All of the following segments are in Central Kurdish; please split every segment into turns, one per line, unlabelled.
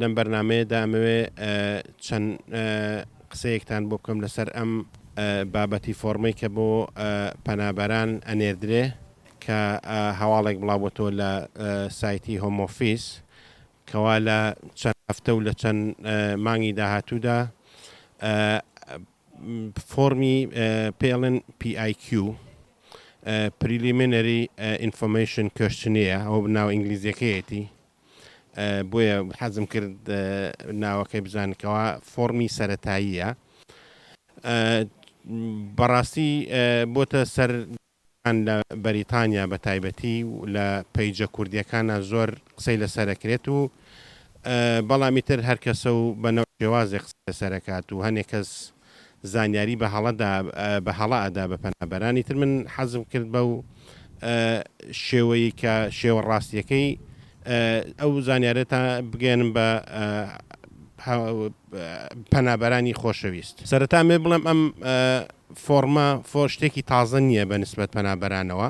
لەم بەرنامەیە دا ئەمەوێ چەند قسەیەکتان بۆ بکەم لەسەر ئەم بابەتی فۆڕمەی کە بۆ پەنابەران ئەنێردرێ کە هەواڵێک بڵاوبۆتەوە لە سایتی هۆمۆفیس کەوا لە چەند هەفتە و لە چەند مانگی داهاتوودا فۆرمی پێڵن PIQ پریلیمینەری ئینفۆمیشن کشتنیە ئەو ناو ئینگلیزیەکەیەتی بۆیە حەزم کرد ناوەکەی بزانن کەوا فۆڕمی سەتاییە بەڕاستی بۆتە سەر لە بەریتانیا بە تایبەتی لە پەیجە کوردیەکانە زۆر قسەی لەسەرەکرێت و بەڵامی تر هەرکەسە و بەنەوە شێوازێک قسە لەسەرکات و هەنێک کەس زانیاری بە هەڵە دا بە هەڵە ئەدا بە پەنابەران ئیتر من حەزم کرد بەو شێوەی کە شێوە ڕاستیەکەی ئەو زانیارێتە بگەێنم بە پەنابەرانی خۆشەویست سەرەتا مێ بڵێم ئەم فۆرمە فۆ شتێکی تازە نییە بە نسبەت پەنابەرانەوە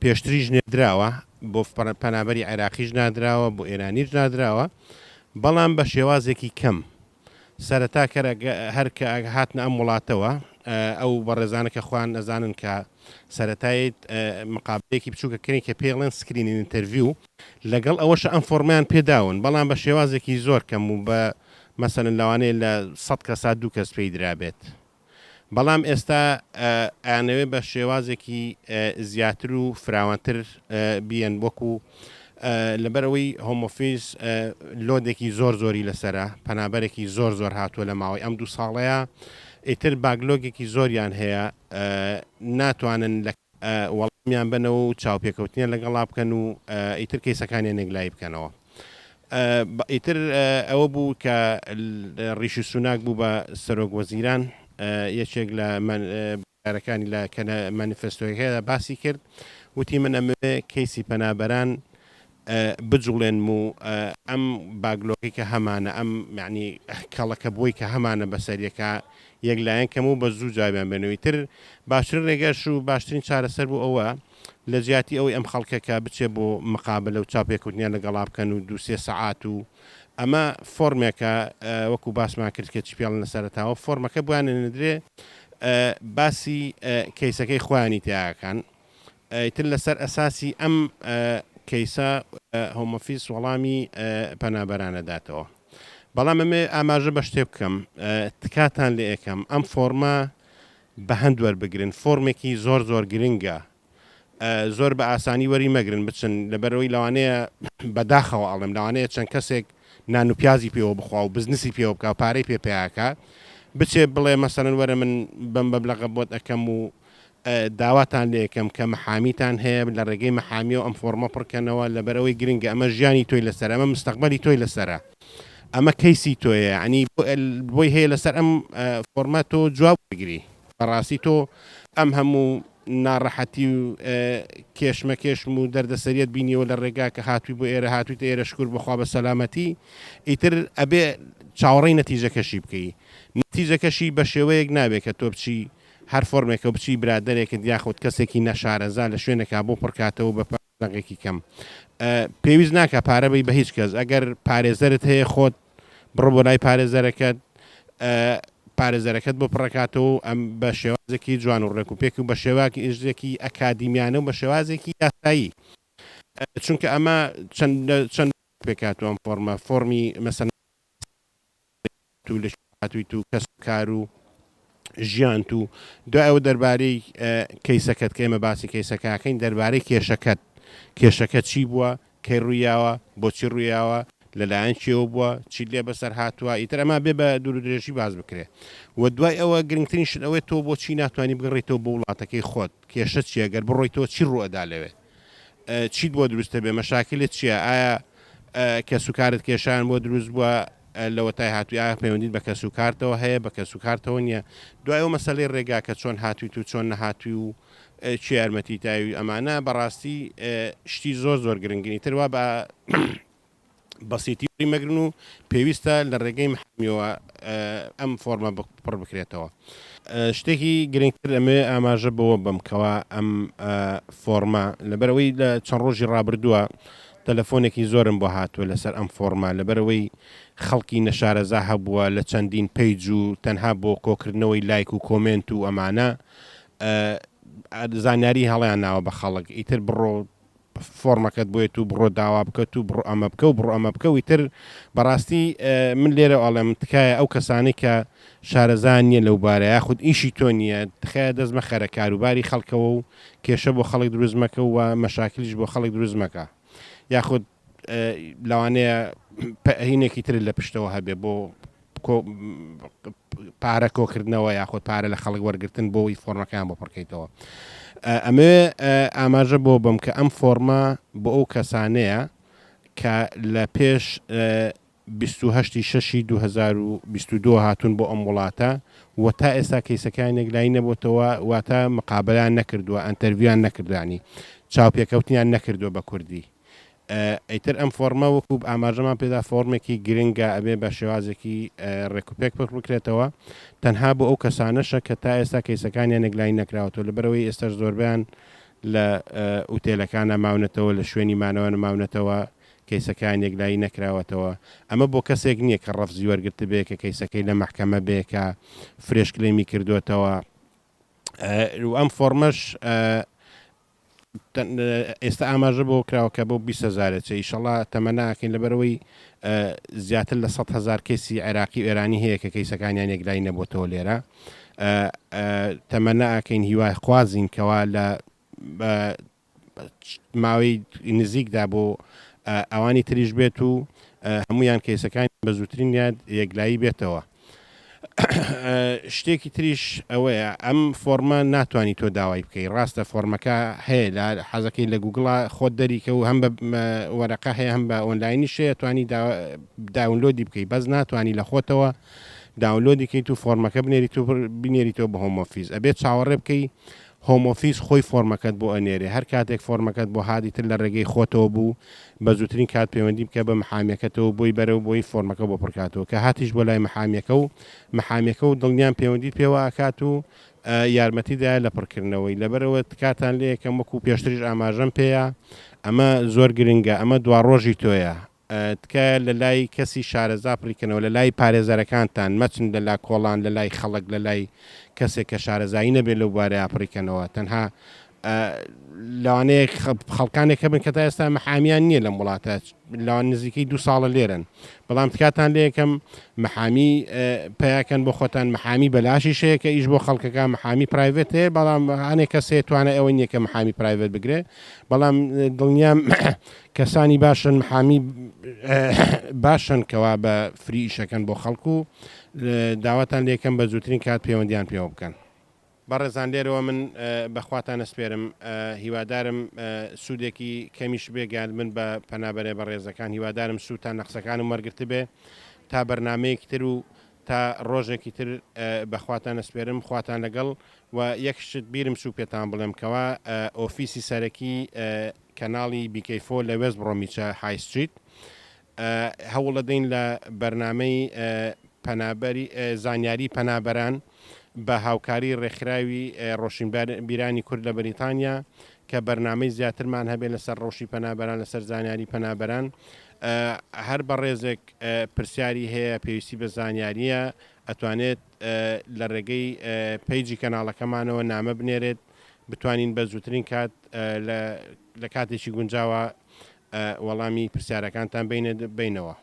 پێشتریش نێدراوە بۆ پەنابەری عێراقیش نادراوە بۆ ئێرانیش نادراوە بەڵام بە شێوازێکی کەم سەرەتا کەر هەر کە هاتنە ئەم وڵاتەوە ئەو بەڕێزانە کە خوان ئەزانن کە سەتایت مقابلێکی بچووکە کردنی کە پێڵێن سکرینی ئینتەرڤیو لەگەڵ ئەوەش ئەم فۆرمیان پێداون بەڵام بە شێوازێکی زۆر کەم و بە مەسەن لەوانەیە لە سەد کەسا دوو کەس پێی درابێت بەڵام ئێستا ئەیانەوێت بە شێوازێکی زیاتر و فراوانتر بیەن وەکو لەبەرەوەی هۆمۆفیز لۆدێکی زۆر زۆری لەسرە پەنابەرێکی زۆر زۆر هاتووە لە ماوەی ئەم دوو ساڵەیە ئیتر باگلۆگێکی زۆریان هەیە ناتوانن لە وەڵامیان بنەوە و چاوپێکەوتنیان لەگەڵا بکەن و ئیتر کەیسەکانیان یەکلایی بکەنەوە. ئیتر ئەوە بوو کە ڕیشی سوناک بوو بە سەرۆک وەزیران یەکێک لە بەرەکانی لە کە لە مانیفستۆیەکەدا باسی کرد وتی من ئەمەوێ کەیسی پەنابەران بجوڵێنم و ئەم باگلۆکی کە هەمانە ئەم معنی کەڵەکە بۆی کە هەمانە بەسەریەکە یەک لایەن کەم و بە زوو جوابیان بێنەوەی تر باشترین ڕێگەش و باشترین چارەسەر بوو ئەوە لە جیاتی ئەوەی ئەم خەڵکە کە بچێ بۆ مقابلە و چاوپێکەوتنیان لەگەڵا بکەن و دوو سێ سەعات و ئەمە فۆرمێکە وەکو باسمان کرد کە چی پێڵن لە سەرەتاوە فۆرمەکە بۆیان ئەنێدرێ باسی کەیسەکەی خۆیانی تیاکان ئیتر لەسەر ئەساسی ئەم کەیسە هۆمۆفیس وەڵامی پەنابەرانە داتەوە بەڵام ئەمێ ئاماژە بە شتێ بکەم تکاتان لە ئێکەم ئەم فۆرمە بەهەند وەربگرن فۆرمێکی زۆر زۆر گرنگە زۆر بە ئاسانی وەری مەگرن بچن لەبەرەوەی لەوانەیە بەداخەوە ئەڵێم لەوانەیە چەند کەسێک نان و پیازی پێوە بخوا و بزنسی پێوە بکە و پارەی پێ پیاکە بچێ بڵێ مەسەرەن وەرە من بەم بەبلەغە بۆت ئەەکەم و داواتان لە یەکەم کە محامیتان هەیە لە ڕێگەی محامیەوە ئەم فۆرمە پڕکەنەوە لەبەرەوەی گرنگە ئەمە ژیانی تۆی لەسەر ئەمە مستەقبەلی تۆی لەسرە. ئەمە کەیسی تۆیە یەعنی بۆی هەیە لەسەر ئەم فۆرمە تۆ جواب وەرگری بەڕاستی تۆ ئەم هەموو ناڕەحەتی و کێشمەکێشم و دەردەسەریت بینیەوە لە ڕێگا کە هاتووی بۆ ئێرە هاتوویتە ئێرە شکور بخوا بە سەلامەتی ئیتر ئەبێ چاوەڕێی نەتیجەکەشی بکەی نەتیجەکەشی بە شێوەیەک نابێت کە تۆ بچی هەر فۆرمێکە و بچی برادەرێکت یاخود کەسێکی نەشارەزا لە شوێنێکا بۆ پڕکاتەوە بە دەنگێکی کەم پێویست ناکا پارە بەی بە هیچ کەس ئەگەر پارێزەرت هەیە خۆت بڕۆ بۆ لای پارێزەرەکەت پارێزەرەکەت بۆ پڕکاتەوە ئەم بە شێوازێکی جوان و ڕێک و پێک و بە شێواکی ئژێکی ئەکادیمیانە و بە شێوازێکی یاسایی چونکە ئەمە چەند پێکاتوە ئەم فۆرمە فۆرمی مەسەن بێت و لە کوێ هاتوویت و کەس و کار و ژیانت و دوای ئەوە دەربارەی کەیسەکەت کە ئێمە باسی کەیسەکەکەین دەربارەی کێشەکەت کێشەکە چی بووە کەی ڕوویاوە بۆچی ڕوویاوە لەلایەن کێوە بووە چیت لێ بەسەر هاتووە ئیتر ئەما بێ بە دوور و درێژی باز بکرێ و دوای ئەوە گرنگترین شت ئەوەیە تۆ بۆچی ناتوانانی بگەڕێیتەوە بۆ وڵاتەکەی خۆت کێشە چییە گەر بڕۆیتەوە چی ڕووئەدا لەوێ چیت بۆ دروست دەبێت مەشاکلت چیە ئایا کەس و کارت کێشان بۆ دروست بووە لەوەتای هاتووی ئایا پەیوەندیت بە کەس و کارتەوە هەیە بە کەس و کارتەوە نییە دوای ئەو مەسلەی ڕێگا کە چۆن هاتویت و چۆن نەهاتوی و چی یارمەتی تاوی ئەمانە بەڕاستی شتی زۆر زۆر گرنگنی تروا بە بەسیتی وەریمەگرن و پێویستە لە رێگەی محامیەوە ئەم فۆرمە پڕ بکرێتەوە. شتێکی گرنگتر ئەمەوێ ئاماژە بەوە بەم کەوا ئەم فۆرمە لەبەرئەوەی لە چەند رۆژی رابردووە تەلەفۆنێکی زۆرم بۆ هاتووە لەسەر ئەم فۆرمە لەبەرئەوەی خەڵکی نەشارەزا هەبووە لە چەندین پەیج و تەنها بۆ کۆکردنەوەی لایک و کۆمێنت و ئەمانە زانیاری هەڵیاناوە بە خەڵک ئیتر بڕۆ فۆڕمەکەت بۆێت و بڕۆ داوا بکەت و بڕۆ ئەمە بکە و بڕۆ ئەمە بکە و ئیتر بەڕاستی من لێرە ئەڵێم تکایە ئەو کەسانەی کە شارەزا نییە لەو بارە یاخود ئیشی تۆ نییە تخایە دەست مەخەرە کاروباری خەڵکەوە و کێشە بۆ خەڵک دروست مەکە و مەشاکلیش بۆ خەڵک دروست مەکە یاخود لەوانەیە هینێکی ترت لە پشتەوە هەبێ بۆ پارە کۆکردنەوە یاخود پارە لە خەڵک وەرگتن بۆی فۆرمەکەیان بۆ پڕکەیتەوە ئەمێ ئاماژە بۆ بم کە ئەم فۆرمە بۆ ئەو کەسانەیە کە لە پێش بیست و هەشت ی شەشی دوو هەزار و بیست و دوو هاتوون بۆ ئەم وڵاتە و تا ئێستا کەیسەکەیان یەکلایی نەبۆتەوە واتە مقابەلەیان نەکردووە ئەنتەرڤیویان نەکردووە یانی چاوپێکەوتنیان نەکردووە بە کوردی ئیتر ئەم فۆڕمە وەکو ئاماژەمان پێدا فۆڕمێکی گرنگە ئەبێ بە شێوازێکی ڕێکوپێک پەخ بکرێتەوە تەنها بۆ ئەو کەسانەشە کە تا ئێستا کەیسەکانیان یەکلایی نەکراوەتەوە لەبەرەوەی ئێستاش زۆربەیان لە ئوتێلەکانە ماونەتەوە لە شوێنی مانەوە نەماونەتەوە کەیسەکەیان یەکلایی نەکراوەتەوە، ئەمە بۆ کەسێک نییە کە ڕەفزی وەرگرتبێ کە کەیسەکەی لە مەحکەمە بێ کە فرێش کلەیمی کردۆتەوە و ئەم فۆڕمەش ئێستا ئاماژە بەوە کراوە کە بۆ بیست هەزارە چێ ئیشەڵا تەمەنا ئەکەین لەبەرەوەی زیاتر لە سەد هەزار کەیسی عێراقی و ئێرانی هەیە کە کەیسەکانیان یەکلایی نەبووتەوە لێرە تەمەنا ئەکەین هیوایخوازین کەوا لە ماوەی نزیکدا بۆ ئەوانی تریش بێت و هەمویان کەیسەکان بە زووترین یاد یەکلایی بێتەوە. شتێکی تریش ئەوەیە ئەم فۆرمە ناتوانانی تۆ داوای بکەی ڕاستە فۆرمەکە هەیە لە حەزەکەی لە گوگڵا خۆت دەریکە و هەم بە وەرەقە هەیە هەم بە ئۆنلاینی شەیە توانی داونلۆدی بکەی بەس ناتوانانی لە خۆتەوە داونلۆدی کەیت و فۆرمەکە بنێریت و بنێریتەوە بە هۆمۆفیز ئەبێت چاوەڕێ بکەی هۆم ئۆفیس خۆی فۆرمەکەت بۆ ئەنێرێ هەر کاتێک فۆرمەکەت بۆ هات ئیتر لە ڕێگەی خۆتەوە بوو بە زووترین کات پەیوەندی بکە بە محامیەکەتەوە و بۆی بەرەوە بۆی فۆرمەکە بۆ پڕکاتەوە کە هاتیش بۆ لای محامیەکە و محامیەکە و دڵنیام پەیوەندیت پێوە ئەکات و یارمەتی دایە لە پڕکردنەوەی لەبەرەوە تکاتان لێ یەکەم وەکو پێشتریش ئاماژەم پێیە ئەمە زۆر گرنگە ئەمە دواڕۆژی تۆیە تکایە لەلای کەسی شارەزا پڕیکەنەوە لەلای پارێزەرەکانتان مەچن لەلا کۆڵان لەلای خەڵک لەلای کەسێک کە شارەزایی نەبێت لەو بوارەیا پڕیکەنەوە تەنها لەوانەیە خەڵکانێک هەبن کە تا ئێستا محامیان نییە لەم وڵاتە لەوان نزیکەی دو ساڵە لێرن بەڵام تکاتان لە یەکەم محامی پیاکەن بۆ خۆتان محامی بەلاشی شەیە کە ئیش بۆ خەڵکەکە محامی پرایڤێت هەیە بەڵام هەنێک کەسێ توانە ئەوە نیە کە محامی پرایڤێت بگرێ بەڵام دڵنیام کەسانی باشن محامی باشن کەوا بە فری ئیشەکەن بۆ خەڵک و داواتان لێکەم بە زووترین کات پەیوەندیان پێوە بکەن. بەڕێزان لێرەوە من بەخواتان ئەسپێرم هیوادارم سودێکی کەمیش بێ گەیاندبن بە پەنابەرێ بەڕێزەکان هیوادارم سوتان لە قسەکانم وەرگرتبێ تا بەرنامەیەکی تر و تا ڕۆژێکی تر بەخواتان ئەسپێرم خواتان لەگەڵ و یەک شت بیرم سو پێتان بڵێم کەوا ئۆفیسی سەرەکی کەناڵی بیکەی فۆر لە وێست بڕۆمیچە های ستریت هەوڵەدەین لە بەرنامەی پەنابەری زانیاری پەنابەران بە هاوکاری ڕێکخراوی ڕۆشنبیرانی کورد لە بەریتانیا کە بەرنامەی زیاترمان هەبێت لەسەر ڕەوشی پەنابەران لەسەر زانیاری پەنابەران هەر بە ڕێزێک پرسیاری هەیە پێویستی بە زانیاریە ئەتوانێت لە ڕێگەی پیجی کەناڵەکەمانەوە نامە بنێرێت بتوانین بە زووترین کات لە کاتێکی گونجاوە وەڵامی پرسیارەکانتان بینە بینەوە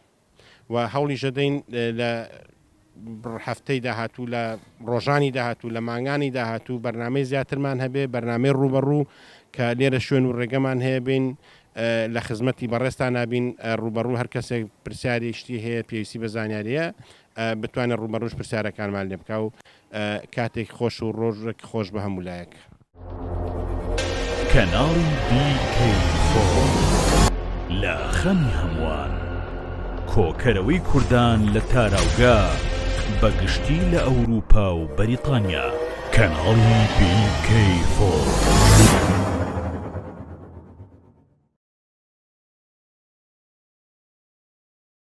و هەوڵیشەدەین لە هەفتەی داهاتوو لە ڕۆژانی داهاتوو لە مانگانی داهاتوو بەرنمەی زیاترمان هەبێ بەرنمەی ڕوبەڕوو کە لێرە شوێن و ڕێگەمان هەیە بین لە خزمەتی بەڕێستا نابین ڕوبەڕوو هەر کەسێک پرسیاری شتی هەیە پێویستی بە زانیاریە بتوانێت ڕوبەڕوش پرسیارەکانمان لێ بکە و کاتێک خۆش و ڕۆژێک خۆش بە هەموو لایەک.
کەناڵی BK Forum لە خەمی هەمووان. کۆکەرەوەی کوردان لە تاراوگە بە گشتی لە ئەوروپا و بەریتانیا. کەناڵی BK Forum.